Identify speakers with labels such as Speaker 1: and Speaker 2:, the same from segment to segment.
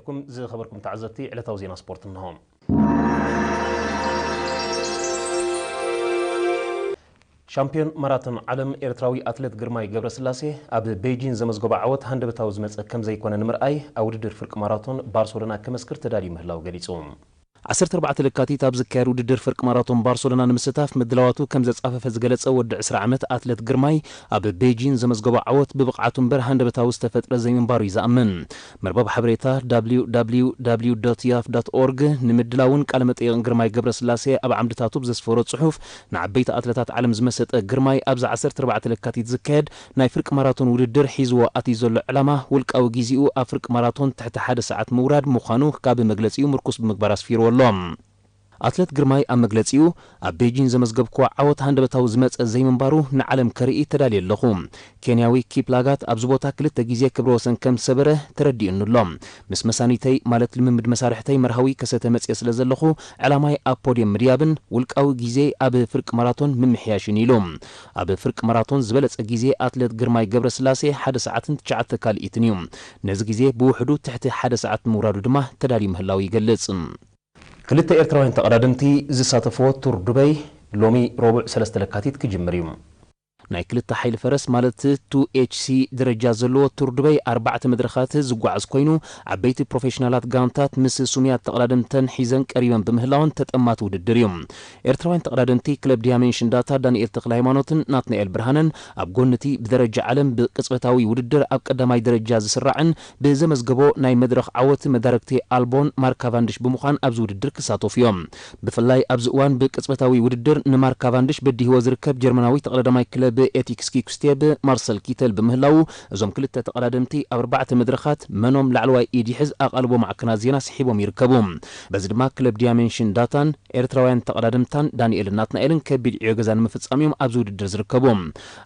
Speaker 1: ኩም ዝኸበርኩም ተዓዘብቲ ዕለታዊ ዜና ስፖርት እንሆ። ሻምፕዮን ማራቶን ዓለም ኤርትራዊ ኣትሌት ግርማይ ገብረስላሴ ኣብ ቤይጂን ዘመዝገቦ ዓወት ሃንደበታዊ ዝመጸ ከምዘይኮነ ንምርኣይ ኣብ ውድድር ፍርቂ ማራቶን ባርሰሎና ከመስክር ተዳልዩ ምህላው ገሊጹ። ዓሰርተ ኣርባዕተ ለካቲት ኣብ ዝካየድ ውድድር ፍርቂ ማራቶን ባርሰሎና ንምስታፍ ምድላዋቱ ከም ዘጻፈፈ ዝገለጸ ወዲ ዕስራ ዓመት ኣትለት ግርማይ፣ ኣብ ቤጂን ዘመዝገቦ ዓወት ብብቕዓቱ እምበር ሃንደበታዊ ዝተፈጥረ ዘይምንባሩ'ዩ ዝኣምን። መርበብ ሓበሬታ www ዶት ያፍ ዶት ኦርግ ንምድላውን ቃለ መጠይቕን ግርማይ ገብረስላሴ ኣብ ዓምድታቱ ብዘስፈሮ ጽሑፍ፣ ንዓበይቲ ኣትለታት ዓለም ዝመሰጠ ግርማይ፣ ኣብዚ ዓሰርተ ኣርባዕተ ለካቲት ዝካየድ፣ ናይ ፍርቂ ማራቶን ውድድር ሒዝዎ ኣትዩ ዘሎ ዕላማ ውልቃዊ ጊዚኡ ኣብ ፍርቂ ማራቶን ትሕቲ ሓደ ሰዓት ምውራድ ምዃኑ ካብ መግለጺኡ ምርኩስ ብምግባር ኣስፊርዎ ኣሎ። ኣትለት ግርማይ ኣብ መግለጺኡ፣ ኣብ ቤጂን ዘመዝገብክዎ ዓወት ሃንደበታዊ ዝመጸ ዘይምንባሩ ንዓለም ከርኢ ተዳልየ ኣለኹ። ኬንያዊ ኪፕላጋት ኣብዚ ቦታ ክልተ ጊዜ ክብረ ወሰን ከም ዝሰበረ ተረዲኡኒ ኣሎ። ምስ መሳኒተይ ማለት ልምምድ መሳርሕተይ መርሃዊ ከሰተ መጺኤ ስለ ዘለኹ ዕላማይ ኣብ ፖድየም ምድያብን ውልቃዊ ጊዜይ ኣብ ፍርቂ ማራቶን ምምሕያሽን ኢዩ ኢሉ። ኣብ ፍርቂ ማራቶን ዝበለጸ ግዜ ኣትለት ግርማይ ገብረስላሴ ሓደ ሰዓትን ትሽዓተ ካልኢትን እዩ። ነዚ ግዜ ብውሕዱ ትሕቲ ሓደ ሰዓት ንምውራዱ ድማ ተዳልዩ ምህላዉ ይገልጽ። ክልተ ኤርትራውያን ተቐዳደምቲ ዝሳተፍዎ ቱር ዱበይ ሎሚ ረቡዕ ሰለስተ ለካቲት ክጅምር እዩ። ናይ ክልተ ሓይሊ ፈረስ ማለት ቱ ኤች ሲ ደረጃ ዘለዎ ቱር ዱበይ ኣርባዕተ መድረኻት ዝጓዓዝ ኮይኑ ዓበይቲ ፕሮፌሽናላት ጋንታት ምስ ስሙያት ተቐዳደምተን ሒዘን ቀሪበን ብምህላወን ተጠማቲ ውድድር እዩ። ኤርትራውያን ተቐዳደምቲ ክለብ ዲያሜንሽን ዳታ ዳኒኤል ተኽለሃይማኖትን ናትናኤል ብርሃነን ኣብ ጎኒ'ቲ ብደረጃ ዓለም ብቅጽበታዊ ውድድር ኣብ ቀዳማይ ደረጃ ዝስራዕን ብዘመዝገቦ ናይ መድረኽ ዓወት መዳርግቲ ኣልቦን ማርክ ካቫንድሽ ብምዃን ኣብዚ ውድድር ክሳተፉ እዮም። ብፍላይ ኣብዚ እዋን ብቅጽበታዊ ውድድር ንማርክ ካቫንድሽ በዲህዎ ዝርከብ ጀርመናዊ ተቐዳዳማይ ክለብ ኤቲክስ ኪኩስቴብ ማርሰል ኪተል ብምህላዉ እዞም ክልተ ተቐዳደምቲ ኣብ ኣርባዕተ መድረኻት መኖም ላዕለዋይ ኢድ ይሕዝ ኣቓልቦ ማዕከናት ዜና ስሒቦም ይርከቡ። በዚ ድማ ክለብ ዲያሜንሽን ዳታን ኤርትራውያን ተቐዳደምትታን ዳኒኤልን ናትናኤልን ከቢድ ዕዮ ገዛ ንምፍጻም እዮም ኣብዚ ውድድር ዝርከቡ።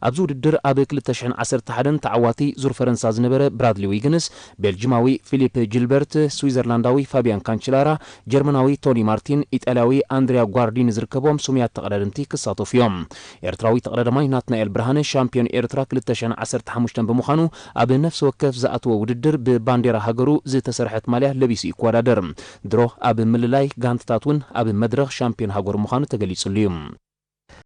Speaker 1: ኣብዚ ውድድር ኣብ ክልተ ሽሕን ዓሰርተ ሓደን ተዓዋቲ ዙር ፈረንሳ ዝነበረ ብራድሊ ዊግንስ፣ ቤልጂማዊ ፊሊፕ ጂልበርት፣ ስዊዘርላንዳዊ ፋብያን ካንችላራ፣ ጀርመናዊ ቶኒ ማርቲን፣ ኢጣልያዊ ኣንድሪያ ጓርዲኒ ዝርከብዎም ስሙያት ተቐዳደምቲ ክሳተፉ እዮም። ኤርትራዊ ተቐዳዳማይ ናትናኤል ብርሃነ ሻምፕዮን ኤርትራ ክልተ ሽሕን ዓሰርተ ሓሙሽተን ብምዃኑ ኣብ ነፍሲ ወከፍ ዝኣተዎ ውድድር ብባንዴራ ሃገሩ ዝተሰርሐት ማልያ ለቢሱ ይኮዳደር። ድሮ ኣብ ምልላይ ጋንታታት እውን ኣብ መድረኽ ሻምፕዮን ሃገሩ ምዃኑ ተገሊፅሉ እዩ።